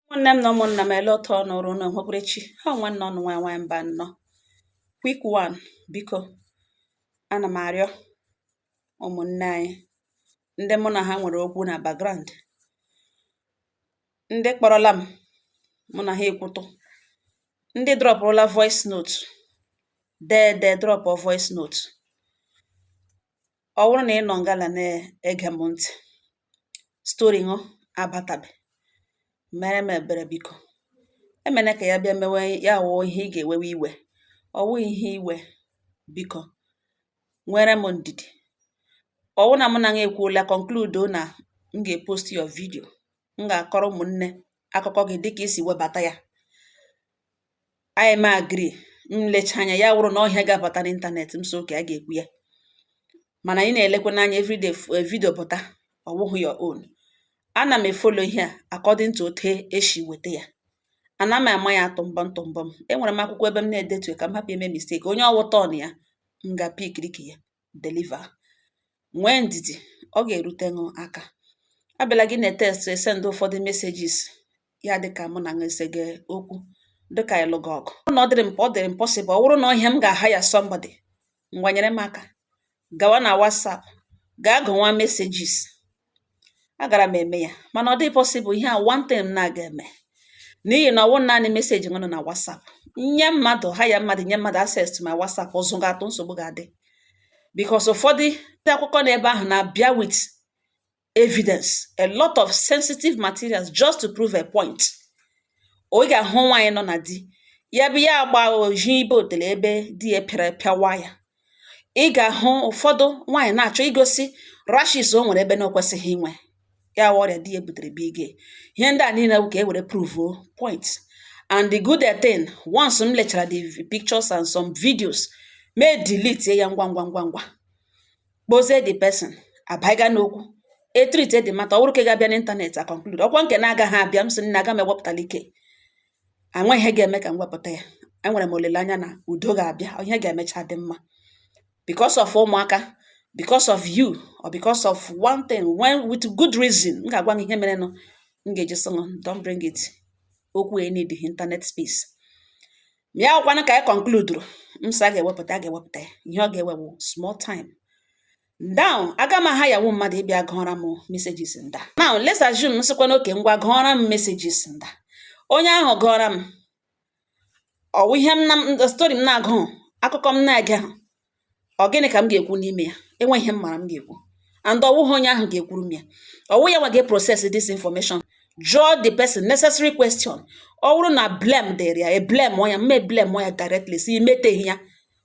ụmụnne m na ụmụnna m ele otu ụnụ rị ụnụ onwekwere chi ha nwanne ụnụ nwa nwaanyị Mbanọ quick one biko ana m arịọ ụmụnne anyị ndị mụ na ha nwere okwu na background ndị kpọrọla m mụ na ha ekwutụ ndị drọpụrụla voice note dee dee drọpụ voice note Ọ wụrụ na ị nọ ngala na-ege m ntị, story ṅụ abatabe mere m ebere biko emene ka ya bịa mewe ya wụọ ihe ị ga-ewewe iwe ọ wụghị ihe iwe biko nwere m ndidi ọ wụrụ na mụ na gị ekwuola conclude na m ga-epost your video m ga-akọrọ ụmụnne akụkọ gị dịka i si webata ya anyị ma agree m lecha anya ya wụrụ na ọ ihe ga-abata n'ịntanetị m sị okay a ga-ekwu ya mana ị na-elekwanụ anya everyday eh, video pụta ọ wụghị your own ana m efolo ihe a according to otu e si weta ya ana m ama ya tụmbọm tụmbọm enwere m akwụkwọ ebe m na-edetu ka m hapụ ime mistake onye ọ wụ turn ya m gaa pikiri nke ya deliver nwee ndidi ọ ga-erute ṅụ aka abịala gị na-etext esend ụfọdụ messages ya dịka mụ na ṅụ esega okwu dịka a lụga ọgụ na ọ dịrị ọ dịrị m possible ọ wụrụ na ọ ihe m ga-ahire somebody ngwa nyere m aka gawa na WhatsApp gaa gụwa messages agara m eme ya mana ọ dịghị possible ihe a one thing m na-agaghị eme n'ihi na ọ wụghị naanị message ṅụ nọ na WhatsApp nye mmadụ hire mmadụ nye mmadụ access to my WhatsApp ụzụ ga-atụ nsogbu ga-adị because ụfọdụ ndị akụkọ n'ebe ahụ na-abịa with evidence a lot of sensitive materials just to prove a point ị ga-ahụ nwaanyị nọ na di ya bụ ya agba oji ibe otele ebe di ya pịara pịawa ya ị ga-ahụ ụfọdụ nwaanyị na-achọ igosi rashes o nwere ebe na o kwesịghị inwe ya wụ ọrịa di ya butere bụ ige ihe ndị a niile bụ ka e were pruvuo point and the good thing once m lechara the pictures and some videos mụ edelete ya ngwa ngwa ngwa ngwa kpozie the person abaiga n'okwu etreat the matter ọ wụrụ nke ga-abịa n'ịntanetị a conclude ọkwa nke na-agaghị abịa m sị na aga m ewepụtala ike enweghị ihe ga-eme ka m wepụta ya enwere m olileanya na udo ga-abịa ihe ga-emecha dị mma because of ụmụaka because of you or because of one thing when with good reason m ga-agwa gị ihe merenụ m ga-eji sị don't bring it okwu e need internet space ma ya wụkwanụ nke anyị conclude m sị a ga-ewepụta a ga-ewepụta ya ihe ọ ga-ewe wụ small time Now, aga m a-hire nwu mmadụ ịbịa gụọra m messages nda. Now, let's assume m sịkwanụ okay ngwa gụọra m messages nda. Onye ahụ gụọra m, ọ wụ ihe m na m- story m na-agụ, akụkọ m na-ege ahụ, ọ gịnị ka m ga-ekwu n'ime ya? Enweghị ihe m mara m ga-ekwu. And ọ wụghị onye ahụ ga-ekwuru m ya. Ọ wụ ya nwa ga-process this information. Jụọ the person necessary question. Ọ wụrụ na blame dịrị ya, e blame ya, m e blame ya directly, sị i meteghị ya.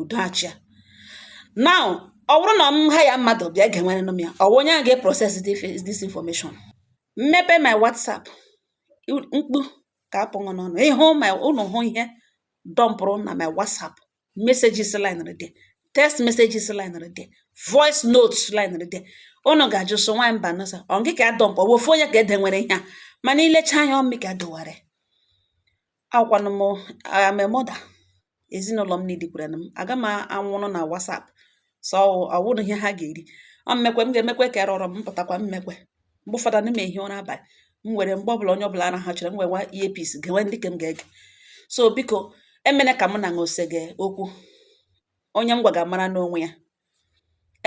udo achịa now ọ bụrụ na m hire mmadụ bịa gewere m ya ọ bụ onye ahụ ga-eprocess this information m mepe my whatsapp mkpu ga-apụ ṅụ n'ọnụ ị hụ ma ụnụ hụ ihe dọmpụrụ na my whatsapp messages line dị text messages line dị voice notes line dị ụnụ ga-ajụ so nwaanyị mbanọ sị ọ gị ka adọmpụ ọ bụ ofu onye ka e dowere ihe a mana i lecha anya ọ mụ ka e dowere Awụkwanụ m I am a mother. Ezinụlọ m needikwere m. Aga m anwụrụ na WhatsApp. So ọ wụrụ ihe ha ga-eri. Ọ m mekwe m ga-emekwe ka erọrọ m pụtakwa m mekwe. Mgbe ụfọdụ ana m ehi ụra abalị. M were mgbe ọbụla onye ọbụla arahachara m werewa earpiece gewe ndị ke m ga-ege. So biko emene ka mụ na ṅụ sege okwu. Onye m gwaga mara n'onwe ya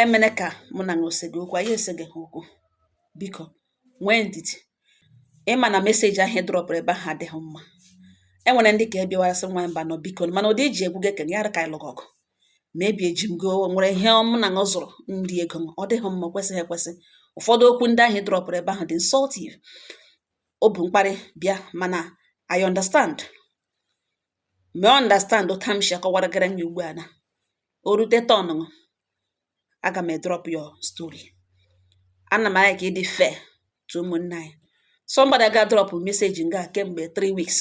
emene ka mụ na ṅụ sege okwu anyị esegeha okwu biko nwee ndidi ịma na meseji ahụ drọpụrụ ebe ahụ adịghị mma enwere ndị ke bịawa sị nwa mbanọ biko mana ụdị i ji ekwuge ke ṅụ ya ka anyị lụga ọgụ maybe eji m ụgwọ o nwere ihe mụ na ṅụ zụrụ ndị ego ọ dịghị mma kwesịghị ekwesị ụfọdụ okwu ndị ahụ drọpụrụ ebe ahụ dị insultive o bu mkparị bịa mana I understand me understand otu a m si akọwaragara ṅụ ya ugbu a na o rute turn ṅụ aga m edrop your story ana m alike ịdị fair to ụmụnne anyị somebody ga drop message nga kemgbe 3 weeks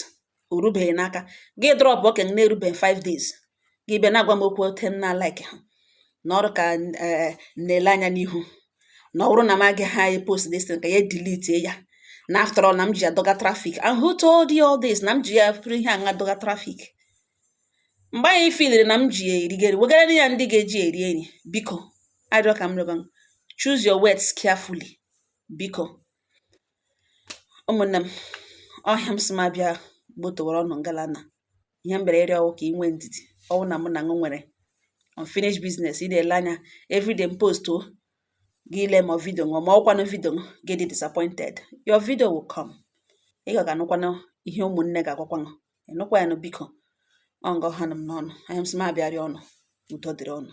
o rubeghị n'aka gị edropụ ke ṅụ na-erubeghị 5 days gị bịa na-agwa m okwu otu m na-alike ha na ọ dị ka eh, na-ele anya n'ihu na ọ bụrụ na m agaghị apost this thing ka ya delete ya na after all na m ji ya dọga traffic and who told you all this na m ji ya pụrụ ihe aṅa dọga traffic mgbe ị filiri na m ji ya erige eri wegara ya ndị ga-eji eri eri biko arịọ ka m rịọba choose your words carefully biko ụmụnne m ọ ihe m sị m abịa gbotowara ụnụ ngalana ihe m bịara ịrịọ ọwụ ka ị nwee ndidi ọwụ na mụ na ṅụ nwere unfinished business ị na-ele anya everyday m postọ gị ele ma vidio ṅụ ọ ma ọ wụkwanụ vidio ṅụ gị adị disappointed your video will come ị ga ga-anụkwanụ ihe ụmụnne ga-agwakwa ṅụ ị nụkwa ya nụ biko ọ nga ọ ha nụ m n'ọnụ ọ ihe m sị m abịa rịọ ụnụ udo dịrị ụnụ